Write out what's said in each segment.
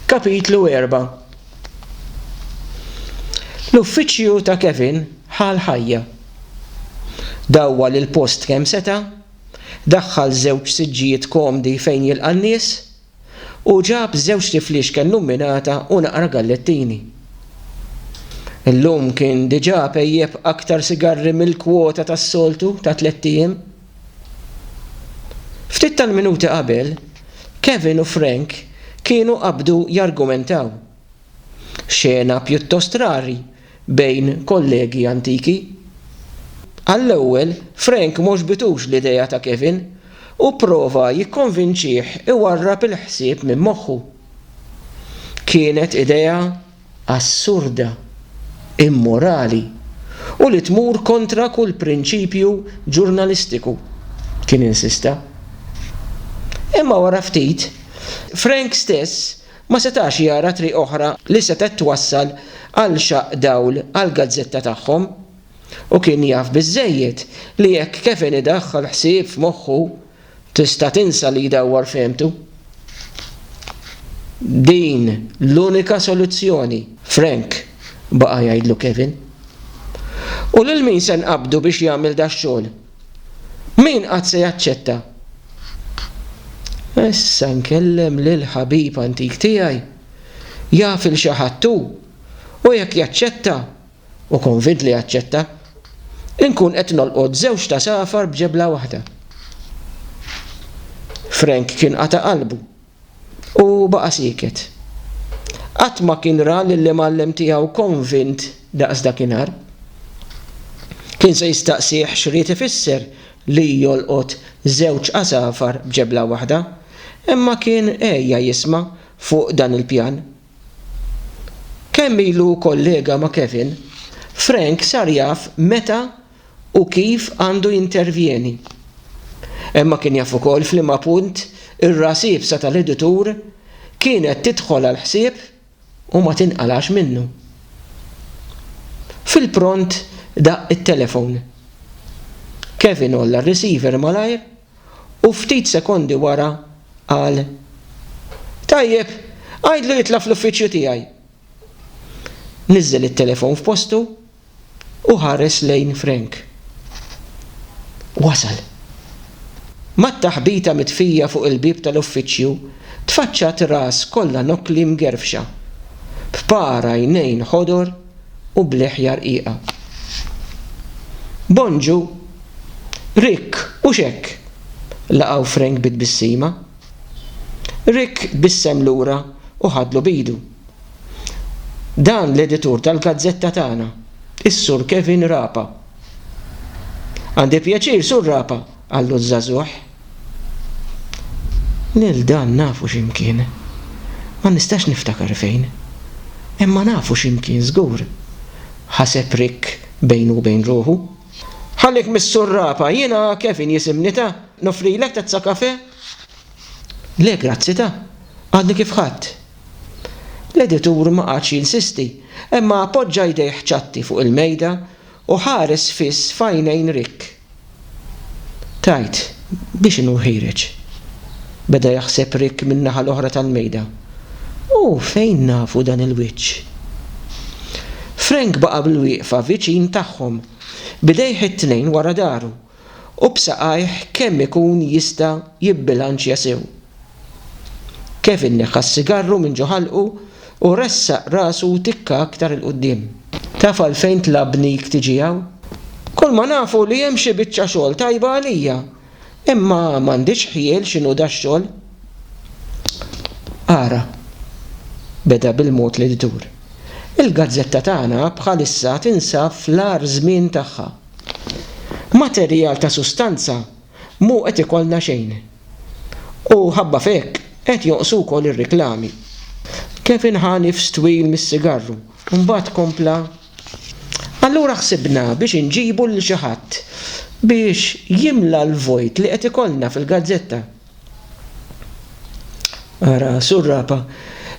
Kapitlu Erba' L-uffiċċju ta' Kevin ħa l-ħajja. Dawwal il-post kemm seta', daħħal żewġ siġġijiet komdi fejn jilqa' n-nies, u ġab żewġt ifliexka illuminata u naqra gallettini. Illum kien diġà pejjep aktar sigarri mill-kwota tas-soltu ta' tlett ijiem. Ftit tal-minuti qabel, Kevin u Frank kienu qabdu jargumentaw. Xena pjuttost rari bejn kollegi antiki. Għall-ewwel, Frank m'għoġbitux l-idea ta' Kevin u pprova jikkonvinċih iwarrab il-ħsieb minn moħħu. Kienet idea assurda, immorali u li tmur kontra kull prinċipju ġurnalistiku, kien insista. Imma wara ftit, Frank stess ma setax jara triq oħra li setgħet twassal għal xaqq dawl għall-gazzetta tagħhom u kien jaf biżżejjed li jekk Kevin idaħħal ħsieb f'moħħu Tista' tinsa li jdawwar fehmtu? Din l-unika soluzzjoni, Frank, baqa' jgħidlu Kevin. U lil min se nqabbdu biex jagħmel dax-xogħol? Min qatt se jaċċetta? Issa nkellem lill-ħabib antik tiegħi. Jaf 'il xi ħadd hu, u jekk jaċċetta, u konvint li jaċċetta, inkun qed nolqot żewġt għasafar b'ġebla waħda. Frank kien qata' qalbu u baqa' sieket. Qatt ma kien ra lill-imgħallem tiegħu konvint daqs dakinhar. Kien se jistaqsih x'ried ifisser li jolqot żewġ għasafar b'ġebla waħda, imma kien għeja jisma' fuq dan il-pjan Kemm ilu hu kollega ma' Kevin, Frank sar jaf meta u kif għandu jintervjeni. Imma kien jaf ukoll f'liema punt ir-ras iebsa tal-editur kienet tidħol għall-ħsieb u ma tinqalgħax minnu. Fil-pront daqq it-telefon. Kevin għolla r-receiver malajr. u ftit sekondi wara qal, Tajjeb, għidlu jitla' fl-uffiċċju tiegħi. Niżżel it-telefon f'postu u ħares lejn Frank. Wasal. Mat-taħbita mitfija fuq il-bieb tal-uffiċċju tfaċċat ras kollha nokkli mgerfxa, b'par għajnejn ħodor, u bl-iħja rqiqa. Bonġu, Rick, u x'hekk? laqgħu Frank bi tbissima. Rick tbissem lura u ħadlu b'idu. Dan l-editur tal-gazzetta tagħna, is-Sur Kevin Rapa. Għandi pjaċir, Sur Rapa, Qallu ż-żagħżugħ. Lil dan nafu x'imkien. Ma nistax niftakar fejn. Imma nafu x'imkien żgur, ħaseb Rick bejnu u bejn ruħu. Ħallik mis-surrapa, jiena Kevin jisimni ta? Noffrilek tazza kafè? Le grazzi ta? Għadni kif ħadt. L-editur ma qagħadx jinsisti, imma poġġa jdejh ċatti fuq il-mejda U ħares fiss f'għajnejn Rick. Tgħid, b'x'inhu ħiereġ? beda jaħseb Rick min-naħa l-oħra tal-mejda. U fejn nafu dan il-wiċċ? Frank baqa' bilwieqfa viċin tagħhom, b'idejh it-tnejn wara dahru, u b'saqajh kemm ikun jista' jibbilanċja sew. Kevin neħħa s-sigarru minn ġo ħalqu u ressaq rasu tikka aktar 'il quddiem. Taf għalfejn tlabnik tiġi hawn? Kulma nafu li hemm xi biċċa xogħol tajba għalija, imma m'għandix ħjiel x'inhu dax-xogħol. Ara, beda bil-mod li ddur, il-gazzetta tagħna bħalissa tinsab fl-agħar żmien tagħha. Materjal ta' sustanza mhu qed ikollna xejn. U ħabba f'hekk qed jonqsu wkoll ir-riklami. Kevin ħa nifs twil mis-sigarru u mbagħad kompla, Allura ħsibna biex inġibu lil xi ħadd biex jimla l-vojt li qed ikollna fil-gazzetta. Ara Surrapa,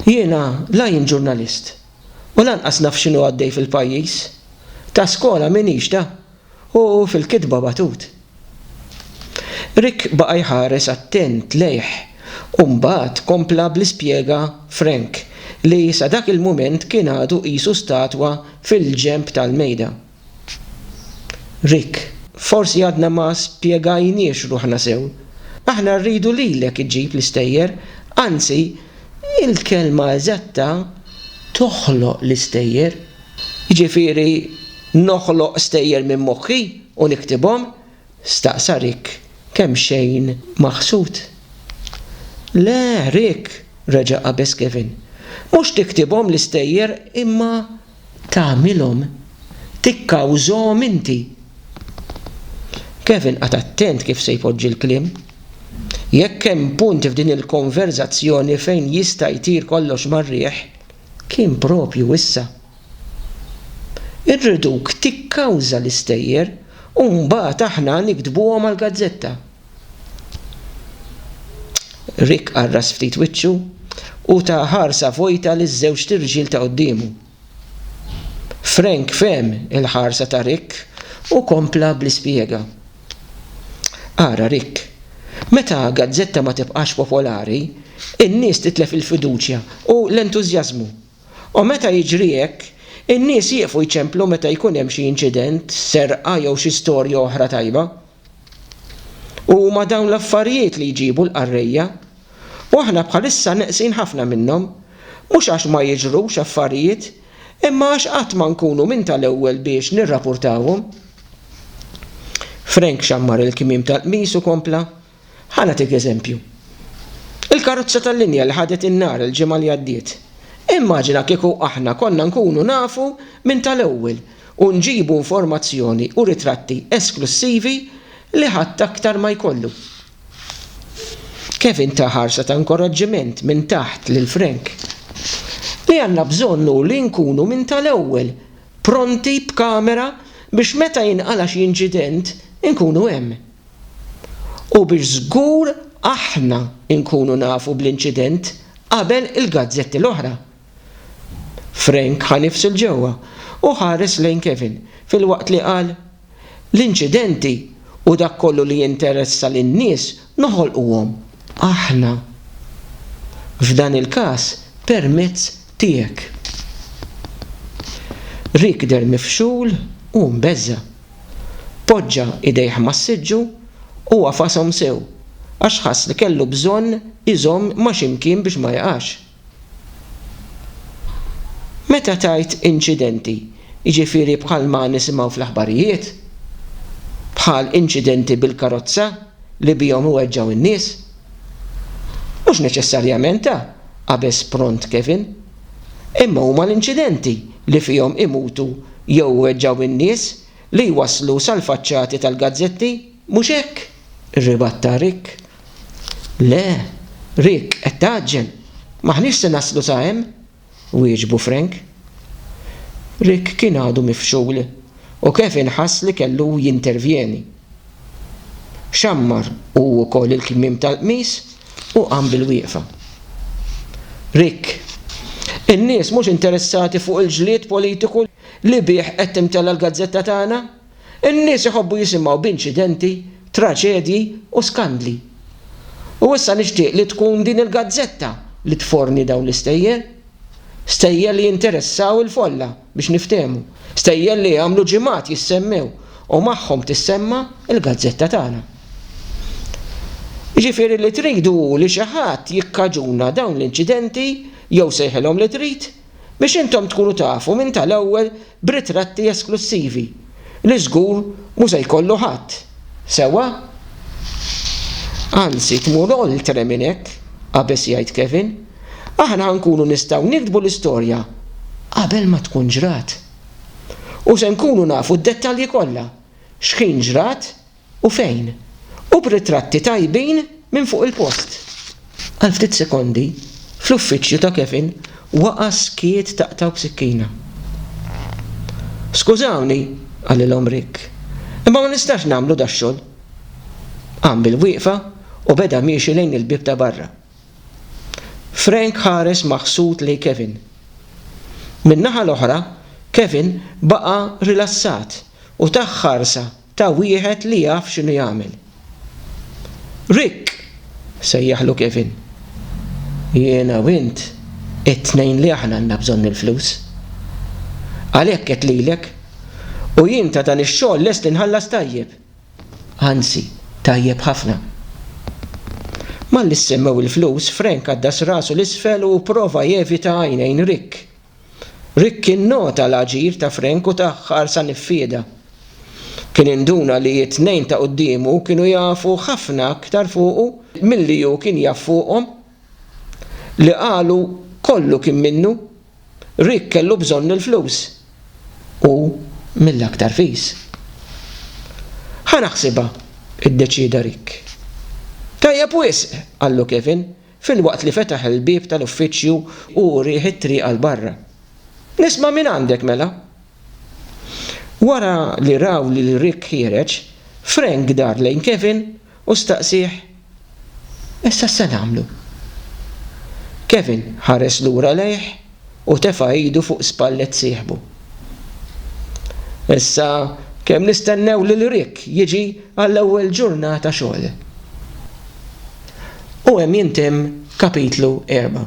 jiena la jien ġurnalist, u lanqas naf x'inhu għaddej fil-pajjiż. Ta' skola m'iniex ta' u fil-kitba batut. Rick baqa' jħares attent lejh u mbagħad kompla bl-ispjega Frank li sa dak il-mument kien għadu qisu statwa fil-ġenb tal-mejda. Rick, Forsi għadna ma spjegajniex ruħna sew. Aħna rridu lilek iġġib l-istejjer, anzi, il-kelma eżatta toħloq l-istejjer. Jiġifieri noħloq stejjer minn moħħi u niktibhom? staqsa Rick kemxejn maħsud. Le, Rick, reġa' qabeż Kevin. Mhux tiktibhom l-istejjer imma tagħmilhom tikkawżahom inti. Kevin qagħad attent kif se jpoġġi l-kliem. Jekk hemm punt f'din il-konverżazzjoni fejn jista' jtir kollox mar-riħ, kien proprju issa. Irriduk tikkawża l-istejjer u mbagħad aħna niktbuhom għall-gazzetta. Rick qarras ftit wiċċu u ta ħarsa vojta liż-żewġt irġiel ta' quddiemu. Frank fehem il-ħarsa ta' Rick u kompla bl-ispjega. Ara, Rick, meta gazzetta ma tibqax popolari, in-nies titlef il-fiduċja u l-entużjażmu. U meta jiġri hekk, in-nies jieqfu jċemplu meta jkun hemm xi inċident, serqa jew xi storja oħra tajba. U huma dawn l-affarijiet li jġibu l-qarrejja. U aħna bħalissa neqsin ħafna minnhom. Mhux għax ma jiġrux affarijiet, imma għax qatt ma nkunu minn tal-ewwel biex nirrapurtawhom. Frank xammar il-kmiem tal-qmis u kompla, Ħa nagħtik eżempju. Il-karozza tal-linja li ħadet in-nar il-ġimgħa li għaddiet. Immaġina kieku aħna konna nkunu nafu minn tal-ewwel u nġibu informazzjoni u ritratti esklussivi li ħadd aktar ma jkollu. Kevin ta ħarsa ta' inkoraġġiment minn taħt lil Frank. Li għandna bżonn hu li nkunu minn tal-ewwel pronti b'kamera biex meta jinqala' xi inċident inkunu hemm. U biex żgur aħna nkunu nafu bl-inċident qabel il-gazzetti l-oħra. Frank ħa nifsu 'l ġewwa u ħares lejn Kevin filwaqt li qal, L-inċidenti u dak kollu li jinteressa lin-nies noħolquhom aħna. F'dan il-każ permezz tiegħek. Rick deher mifxul u mbeżża'. Poġġa idejh mas-siġġu u għafashom sew għax ħass li kellu bżonn iżomm ma' xi mkien biex ma jqax. Meta tgħid inċidenti, jiġifieri bħalma nisimgħu fl-aħbarijiet? Bħal inċidenti bil-karozza li bihom iweġġgħu n-nies? Mhux neċessarjament, qabeż pront Kevin. Imma huma l-inċidenti li fihom imutu jew iweġġgħu n-nies li jwasslu sal-faċċati tal-gazzetti. Mhux hekk? irribatta Rick. Le, Rick, qed tgħaġġel. M'aħniex se naslu sa hemm, wieġbu Frank. Rick kien għadu mifxul u Kevin ħass li kellu jintervjeni. Xammar hu wkoll il-kmiem tal-qmis u qam bilwieqfa. Rick, in-nies mhux interessati fuq il-ġlied politiku li bih qed timtela l-gazzetta tagħna? In-nies iħobbu jisimgħu b'inċidenti, traġedji u skandli. U issa nixtieq li tkun din il-gazzetta li tforni dawn l-istejjer. Stejjer li jinteressaw il-folla biex niftehmu. Stejjer li jagħmlu ġimgħat jissemmew u magħhom tissemma' l-gazzetta tagħna. Jiġifieri li tridu hu li xi ħadd jikkaġuna dawn l-inċidenti, jew sejħilhom li trid, biex intom tkunu tafu minn tal-ewwel b'ritratti esklussivi li żgur mhu se jkollu ħadd, sewwa? Anzi, tmur oltre minn hekk, qabeż jgħid Kevin. Aħna ħa nkunu nistgħu niktbu l-istorja qabel ma tkun ġrat. U se nkunu nafu d-dettalji kollha, x'ħin ġrat, U fejn? U b'ritratti tajbin minn fuq il-post! Għal ftit sekondi, fl-uffiċċju ta' Kevin waqa' skiet taqtgħu b'sikkina. Skużawni, qalilhom Rick, imma ma nistax nagħmlu dax-xogħol. Qam bil-wieqfa u beda miexi lejn il-bieb ta' barra. Frank ħares maħsud lejn Kevin. Min-naħa l-oħra, Kevin baqa' rilassat u tah ħarsa ta' wieħed li jaf x'inhu jagħmel. Rick! sejjaħlu Kevin. Jiena u int it-tnejn li aħna għandna bżonn il-flus. Għalhekk għedt lilek, u jien ta' dan ix-xogħol lest inħallas tajjeb. Anzi, tajjeb ħafna. Malli ssemmew il-flus, Frank għaddas rasu 'l isfel u pprova jevita għajnejn Rick. Rickie nnota l-aġir ta' Frank u ta ħarsa niffieda. Kien induna li t-tnejn ta' quddiemu kienu jafu ħafna aktar fuqu milli hu kien jaf fuqhom. Li qalu kollu kien minnu. Rick kellu bżonn il-flus. U mill-aktar fis. Ħa naħsibha, iddeċieda Rick. Tajjeb wisq, qallu Kevin. filwaqt li fetaħ il-bieb tal-uffiċċju u urieh it-triq għal barra. Nisma' mingħandek mela! Wara li raw lil Rick ħiereġ, Frank dar lejn Kevin u staqsieh, Issa x'se nagħmlu? Kevin ħares lura lejh U tefa' idu fuq spallet sieħbu. Issa kemm nistennew lil Rick jiġi għall-ewwel ġurnata xogħol. U hemm jintemm kapitlu erba'.